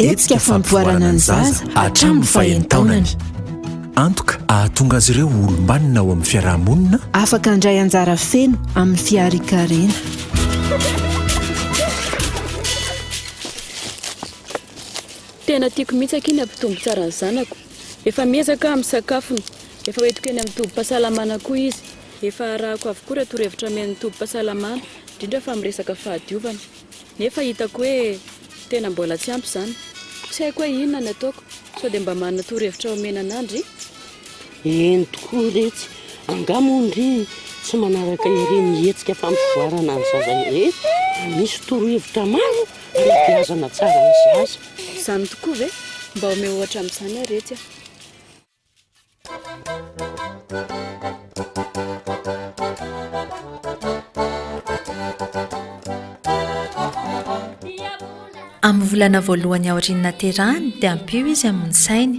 Hetsika fampivoarana ny zaza hatramin'ny fahen'taonany. Antoka ahatonga azy ireo ho olom-banona ao amin'ny fiarahamonina. Afaka handray anjara feno amin'ny fiarikarena. Tena tiako mihitsy akia ny hampitombo tsara ny zanako. Efa miezaka aho amin'ny sakafony. Efa hoentiko eny amin'ny tobim-pahasalamana koa izy. Efa arahako avokoa ireo torohevitra omen'ny tobim-pahasalamana, indrindra fa amin'ny resaka fahadiovana. Nefa hitako hoe tena mbola tsy ampy izany. Tsy haiko hoe inona ny ataoko. Sao dia mba manana torohevitra omena anà ndry? Eny tokoa re tsy. Angaha moa ndry tsy manaraka ireny hetsika fampivoarana ny zaza ireny? Misy torohevitra maro. Fanabeazana tsara ny zaza. Izany tokoa ve? Mba omeo ohatra amin'izany ary etsy a! Amin'ny volana voalohany aorian'ny naterahany dia ampio izy amin'ny sainy.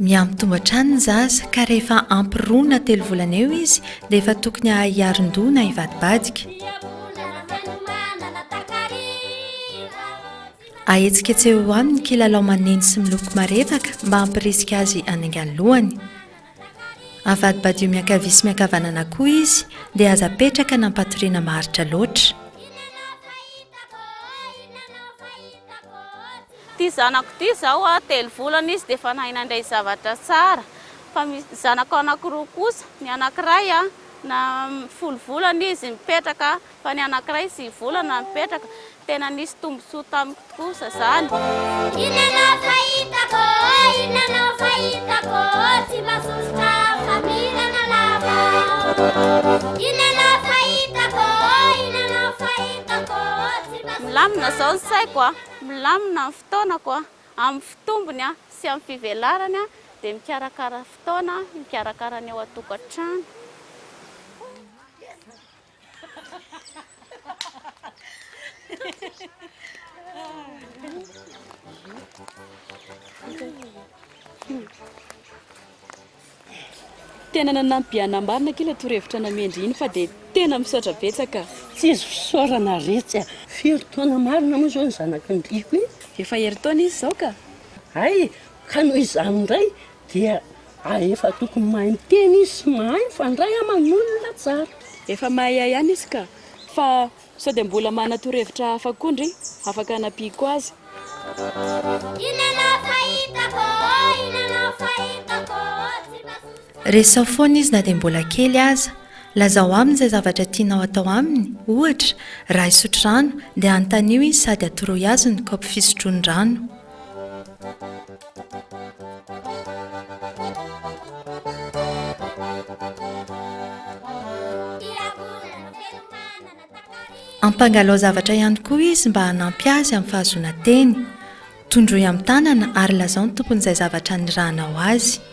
Miha-mitombo hatrany ny zaza ka rehefa ampy roa na telo volana eo izy dia efa tokony hahay hiaron-doha na hivadibadika. Ahetsiketseho eo aminy kilalao maneno sy miloko marevaka mba hampirisika azy hanainga ny lohany. Avadibadio miankavia sy miankavanana koa izy dia aza apetraka na ampatoriana maharitra loatra. Ity zanako ity izao a, telo volana izy dia efa nahay nandray zavatra tsara, fa misy zanako anankiroa kosa, ny anankiray a na folo volana izy mipetraka fa ny anankiray sivy volana mipetraka, tena nisy tombontsoa tamiko kosa izany. Inona no fahitako ô, inona no fahitako ô, tsy mba sosotra faminana lava ô. Inona no fahitako ô, inona no fahitako ô, tsy mba sosotra faminana lava ô. Milamina izao ny saiko a. Milamina ny fotoanako amin'ny fitombony sy amin'ny fivelarany dia mikarakara fotoana hikarakara ny ao an-tokantrano. Tena nanampy an nambarina kila torohevitra namendry iny fa dia tena misaotra betsaka. Tsy izy fisaorana retsy a! Firy taona marina moa izao ny zanaky ny Riko e? Efa herintaona izy izao ka! Hay! Ka noho izany indray dia aefa tokony mahay miteny izy sy mahay mifandray aman olona tsara. Efa mahay ahy ihany izy ka! Fa Sao dia mbola manana torohevitra hafa koa ndry afaka anampiako azy? Resaho foana izy na dia mbola kely aza. Lazao aminy izay zavatra tianao atao aminy, ohatra, raha hisotro rano dia anontanio izy sady atoroy azy ny kaopy fisotroany rano. Ampangalao zavatra ihany koa izy mba hanampy azy amin'ny fahazoana teny. Tondroy amin'ny tanana ary lazao ny tompon'izay zavatra nirahanao azy.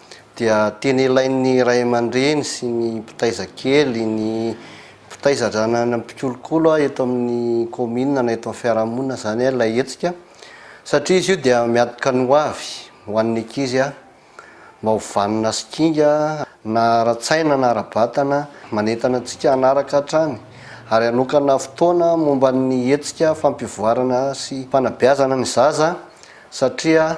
dia tena ilain'ny ray aman-dreny sy ny mpitaiza kely, ny mpitaiza na ny mpikolokolo eto amin'ny kaominina na eto amin'ny fiarahamonina izany ilay hetsika satria izy io dia miadoka ny ho avy ho an'ny ankizy mba ho vanona sy kinga na ara-tsaina na ara-batana manentana antsika hanaraka hatrany ary hanokana fotoana momba ny hetsika fampivoarana sy fanabeazana ny zaza satria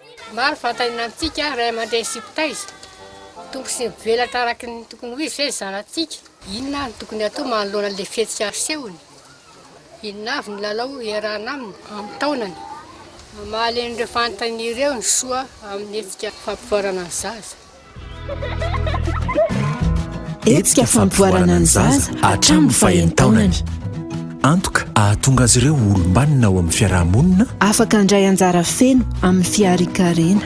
Maro vantaina amintsika ray aman-dreny sy mpitaiza. Tokony tsy mivelatra araka ny tokony ho izy ve ny zanatsika? Inona no tokony hatao manoloana an'ilay fihetsika asehony? Inona avy ny lalao iarahana aminy amin'ny taonany? Mahalehin'ireo fanontaniana ireo ny soa amin'ny hetsika fampivoarana ny zaza. Hetsika fampivoarana ny zaza hatramin'ny faheno taonany. Antoka ahatonga azy ireo ho olom-banona ao amin'ny fiarahamonina. Afaka handray anjara feno amin'ny fiarikarena.